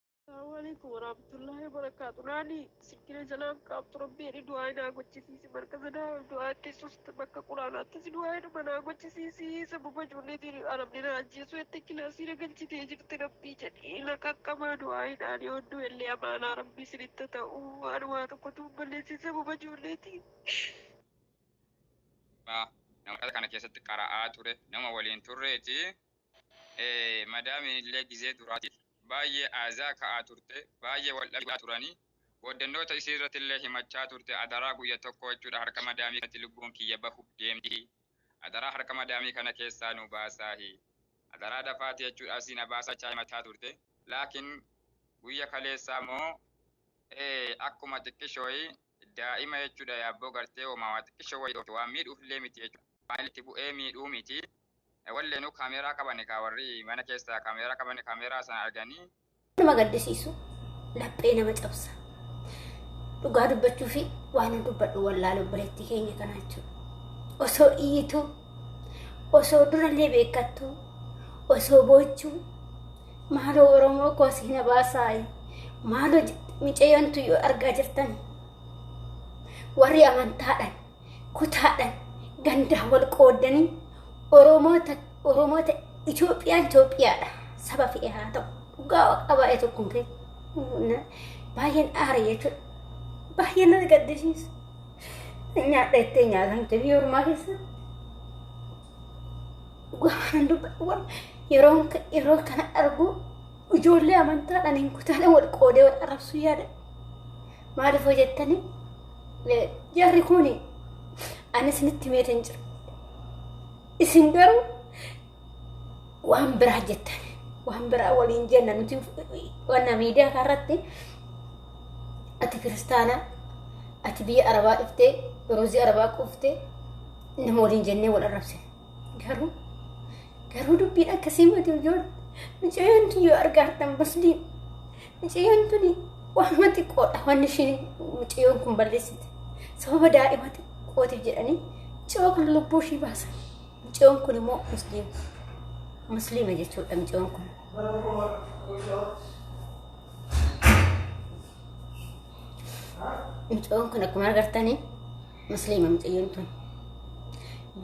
Assalamu alaikum warahmatullahi wabarakatuh. Naani sikkina jalaaf qaabtu rabbi jedhi du'aa naa gochisiisi markaza daawal du'aa keessusti bakka quraanaatti si du'aa jedhuma naa gochisiisi sababa ijoollee diini arabni naa ajjeesuu jettee kilaasii na galchitee jirti rabbii jedhi na qaqqabaa du'aa hidhaan yoo hedduu illee amaanaa rabbii isinitti ta'u waan waa tokkotu balleessi sababa ijoolleetiin. Nama kana keessatti qara'aa ture nama waliin turreeti. ee madaamiin illee gizee duraatiif baayyee aazaa ka'aa turte baayyee wal dhabaa turanii booddannoota isii irratti illee himachaa turte adaraa guyya tokkoo jechuudha harka madaamii kanatti lubbuun kiyya bahuuf deemti adaraa harka madaamii kana keessaa nu baasaahi adaraa dafaati jechuudha asii na baasaa jechaa himachaa turte laakiin guyya kaleessaa moo ee akkuma xiqqishooyi daa'ima jechuudha yaabboo gartee homaa waa xiqqishoo wayii dhoofte waan miidhuuf illee miti jechuudha waan itti bu'ee miidhuu miti Walleenuu kaameeraa qabani kaa warri mana keessa kaameeraa qabani kaameeraa sana arganii. Nama gaddisiisu laphee nama cabsa. Dhugaa dubbachuu fi waan dubbadhu wallaalu obboleettii keenya kana jechuudha. Osoo iyyituu, osoo durallee beekattuu, osoo boochuu, maaloo Oromoo koo si na baasaayi, maaloo micayyoontu yoo argaa jirtan warri amantaadhaan kutaadhaan gandaan wal qooddanii Oromoota Oromoota Itoophiyaan Itoophiyaadha saba fe'ee haa ta'u dhugaa waaqa baay'ee tokkoon kee baay'een aara jechuudha baay'een nama gaddisiisa nyaadha jettee nyaatan kee biyya ormaa keessa dhugaa waan dubbatu yeroo yeroo kana arguu ijoollee amantaadhaan hin kutaadhaan wal qoodee wal arrabsuu yaada Maaliif hoo jettanii eh, jarri kun ani isinitti meetan jira. Isin garuu waan biraa jettan waan biraa waliin jenna nuti wanna miidiyaa kanarratti ati kiristaana ati biyya arabaa dhiftee roozii arabaa quuftee nama waliin jennee wal arrabsine garuu garuu dubbiin akkasii mati ijoollee mucayyoon yoo argaartan musliim Mucayyoon tuni waanuma xiqqoodha wanni ishiin mucayyoon kun balleessite. Sababa daa'ima xiqqootiif jedhanii mucayyoo kana lubbuu ishii baasan. Mucayyoon kun immoo musliima. Musliima jechuudha mucayyoon kun. Mucayyoon kun akkuma agartanii musliima mucayyoon tun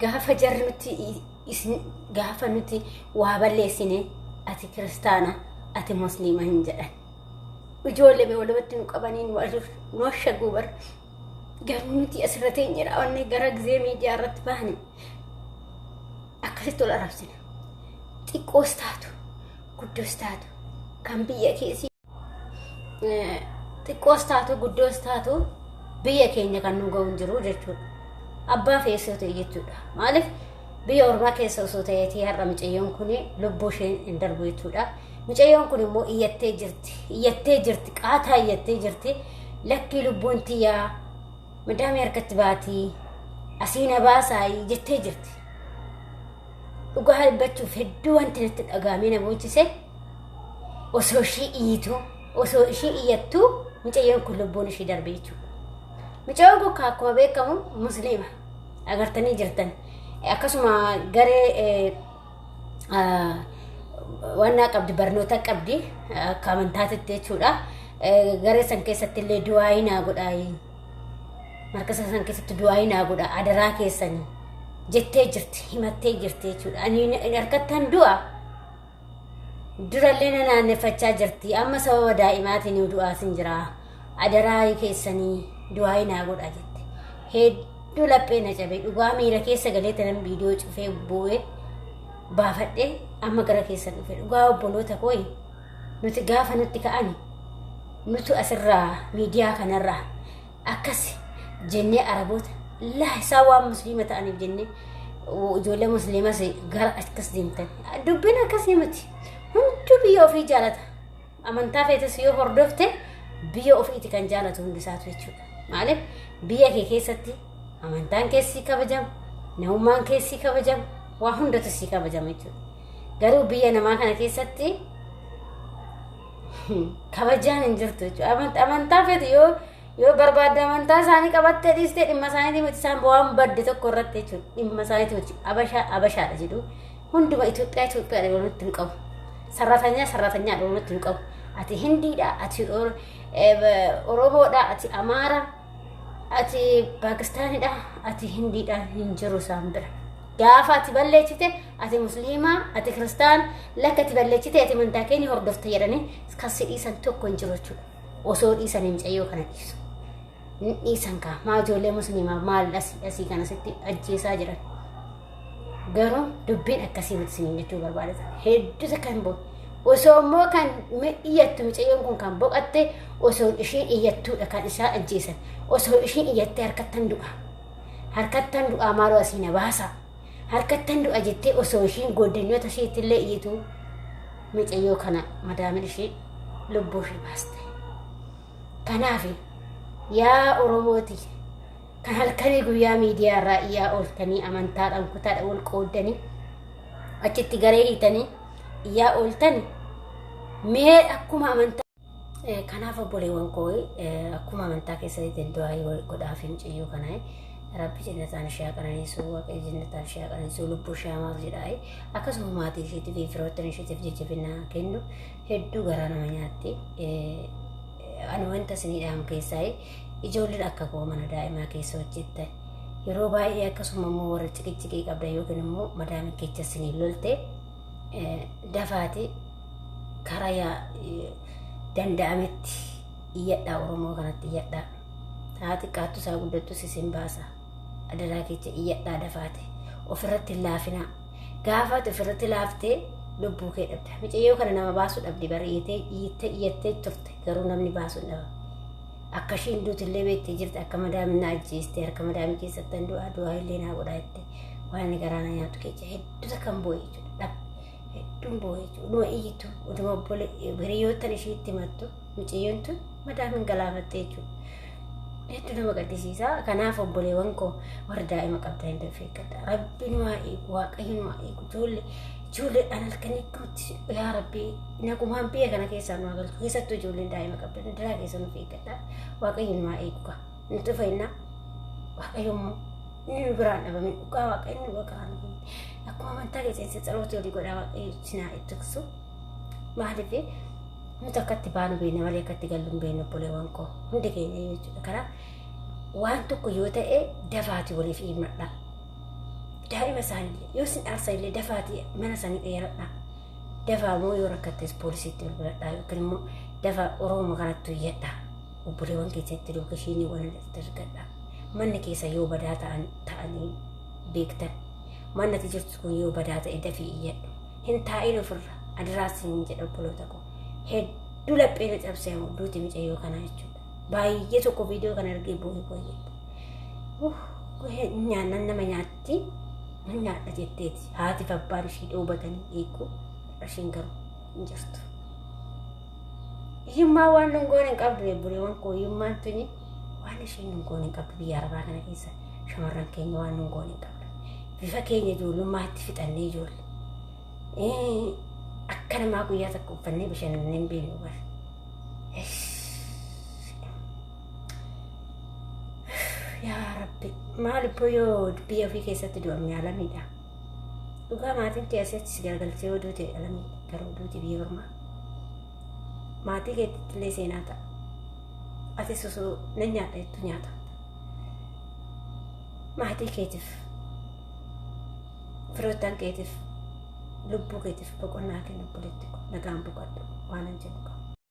gaafa jarri nuti isin gaafa nuti waa balleessine ati kiristaana ati musliima hin jedhan ijoollee mee walumatti nu qabanii nu ajuuf nu ashaguu bar garuu nuti asirra teenye raawwanne gara gizee miidiyaa irratti baane akkasitti ol arabsina xiqqoos taatu guddoos taatu kan biyya keessi xiqqoos taatu guddoos taatu biyya keenya kan nu ga'uun jiru jechuudha. Abbaa feesoo ta'e jechuudha. Maaliif biyya ormaa keessa osoo ta'eetii har'a mucayyoon kun lubbuu isheen hin darbu jechuudha. Mucayyoon kun immoo iyyattee jirti. Iyyattee jirti. Qaataa iyyattee jirti. Lakkii lubbuun tiyyaa madaamii harkatti baatii asii na baasaayii jettee jirti. Dhugaa dubbachuuf hedduu wanti natti dhagahamee na boochise. osoo ishii iyyituu osoo ishii iyyattuu mucayyoon kun lubbuun ishii darbe jechuudha. Mucayyoon kun akkuma beekamu musliima agartanii jirtan akkasuma garee wannaa qabdi barnoota qabdi akka amantaatitti jechuudha. Garee san keessatti illee du'aayii naa godhaayi. Markasa san keessatti du'aayii naa godha adaraa keessanii jettee jirti himattee jirti jechuudha. Ani harkattaan du'a. Durallee na naanneffachaa jirti. Amma sababa daa'imaatiin du'aasin jira. Adaraa keessanii du'aayi naa godha jette. Hedduu laphee na cabe. Dhugaa miira keessa galee tanan viidiyoo cufee bu'ee baafadhee amma gara keessa dhufe. Dhugaa obboloota koo nuti gaafa nutti ka'ani nutu asirraa miidiyaa kanarraa akkas jennee araboota laa isaa waan musliima ta'aniif jennee ijoollee musliimas gara akkas deemtan dubbiin akkasii miti hunduu biyya ofii jaalata amantaa feetes yoo hordofte biyya ofiiti kan jaalatu hundisaatu jechuudha maaliif biyya kee keessatti amantaan keessii kabajama namummaan keessii kabajama waa hundatu sii kabajama jechuudha garuu biyya namaa kana keessatti kabajaan hin jirtu jechuudha. Aman- Amantaa feetu yoo yoo barbaadde amantaa isaanii qabattee dhiistee dhimma isaaniitii miti isaan waan badde tokko irratti jechuudha. Dhimma isaaniitii miti abashaa abashaadha jedhu hunduma Itoophiyaa Itoophiyaadha walitti hin qabu. Sarratanyaa sarratanyaadha walitti hin qabu. Ati Hindiidha, ati Or- eh, Oromoodha, ati Amaara, ati paakistaanidha ati hindiidha hin jiru isaan bira gaafa ati balleechite ati musliimaa ati kiristaan lakka ati balleechite ati amantaa keenya hordofta jedhanii kan si dhiisan tokko hin jiru jechuudha osoo dhiisan hin cayyoo kana dhiisu hin dhiisan kaa maa ijoollee musliimaa maal dhasii dhasii kana sitti ajjeesaa jiran Garuu dubbiin akkasii miti isiniin jechuu barbaada. Hedduusa kan bo osoo immoo kan iyyattu mucayyoon kun kan boqatte osoo ishiin iyyattuudha kan isaa ajjeesan osoo ishiin iyyattee harkattan du'a. Harkattan du'aa maaloo asii na baasa. Harkattan du'a jettee osoo ishiin gooddanyoota isheetti illee iyyitu mucayyoo kana madaamin ishee lubbuu ishee baaste. Kanaaf yaa Oromooti Kan halkanii guyyaa miidiyaa irraa iyyaa ooltanii amantaadhaan kutaadha wal qooddanii achitti garee hiitanii iyyaa ooltani mee akkuma amantaa Eh, kanaaf obboleewwan koo eh, akkuma amantaa keessatti danda'aa godhaaf hin ciyyuu kana eh, rabbi jennataan ishee haa qananiisu waaqayyo jennataan ishee haa qananiisu lubbuu ishee hamaaf jedha eh. akkasuma maatii isheetiif fi firoottan isheetiif jajjabina kennu hedduu garaa nama nyaatti Eh, eh, ani wanta isinii dhaamu keessaa eh, Ijoolleen akka koo mana daa'imaa keessa hojjetta. Yeroo baay'ee akkasuma immoo warra ciqiciqii qabdan yookiin immoo madaamin kecha isiniin lolte dafaati karaa danda'ametti iyyadhaa Oromoo kanatti iyyadhaa. Haa xiqqaattu isaa guddattus isin baasa. adaraa keecha iyyadhaa dafaate ofirratti hin laafinaa gaafaati ofirratti laaftee lubbuu kee dhabda micayyoo kana nama baasuu dhabdi bari'itee iyyitee iyyattee turte garuu namni baasuu hin dhabamu akka ishiin duutillee beektee jirti akka madaamin na ajjeeste harka madaamii keessatti hin du'aa du'aa illee naa godhaa jette waan inni garaa na nyaatu keecha hedduu takkan boo'e jechuudha dhab hedduun boo'e jechuudha dhuma iyyitu dhuma obbole hiriyoottan ishiitti himattu Mucayyoon tun madaa min galaafatte jechuudha. Hedduu nama gaddisiisa. Kanaaf obboleewwan koo warri daa'ima qabdan illee of eeggadha. Rabbi nu haa eegu, waaqayyo nu haa eegu. Ijoollee ijoolleedhaan halkan hedduutti yaa rabbi nagumaan biyya kana keessaa nu haa galchu. Keessattuu ijoolleen daa'ima qabdan daraa keessa nuuf eeggadha. Waaqayyo nu haa eegu kaa. Nuti fayyinaa waaqayyo immoo inni nu biraan dhabame dhugaa waaqayyo nu biraan dhabame. Akkuma amantaa keessatti saloota olii godhaa waaqayyo sinaa ittiksu. Maaliif Nuti akka itti baanu beekna malee akka itti gallu hin beeknu obboleewwan koo. Hundi keenya iyyuu jechuudha. Kanaaf waan tokko yoo ta'e dafaati waliif himadha. Daa'ima isaanillee yoo isin dhaarsanillee dafaati mana isaanii dheeradha. Dafaa immoo yoo rakkattes poolisiitti bilbiladha yookiin immoo dafaa Oromoo kanatti iyyadha. Obboleewwan keessatti lookeshiinii waan irratti argadha. Manni keessa yoo badaa ta'an ta'anii beektan. Mannati jirtu kun yoo badaa ta'e dafii iyyadhu. hin taa'in ofirra adraa siin jedha obboloota koo hedduu laphee na cabsee ammoo duuti micayyoo kanaa jechuudha baay'ee tokko viidiyoo kana argee boo'ee boo'ee nyaannan nama nyaatti nan nyaadha jetteeti haatiif abbaan ishii dhoobatanii eeguu ishiin garuu hin jirtu. Hiyyummaa waan nun goone hin qabdu obboleewwan koo hiyyummaan tuni waan isheen nun goone hin qabdu biyya arabaa kana keessa shamarran keenya waan nun goone hin qabdu. Bifa keenya ijoollummaatti fixannee ijoolle. Akka namaa guyyaa tokko uffannee bashannanne hin beeknu bar. Yaa Rabbi maal ibboo yoo biyya ofii keessatti du'amne alamiidha. Dhugaa maatiin kee asii achi si garagalchee yoo duute alamii garuu duuti biyya ormaa. Maatii keetti illee seenaa ta'a. Ati susuu nan nyaadha jettu nyaata. Maatii keetiif firoottan keetiif lubbuu keetiif boqonnaa kenna obboleetti koo nagaan boqadhu waanan jedhu qaba.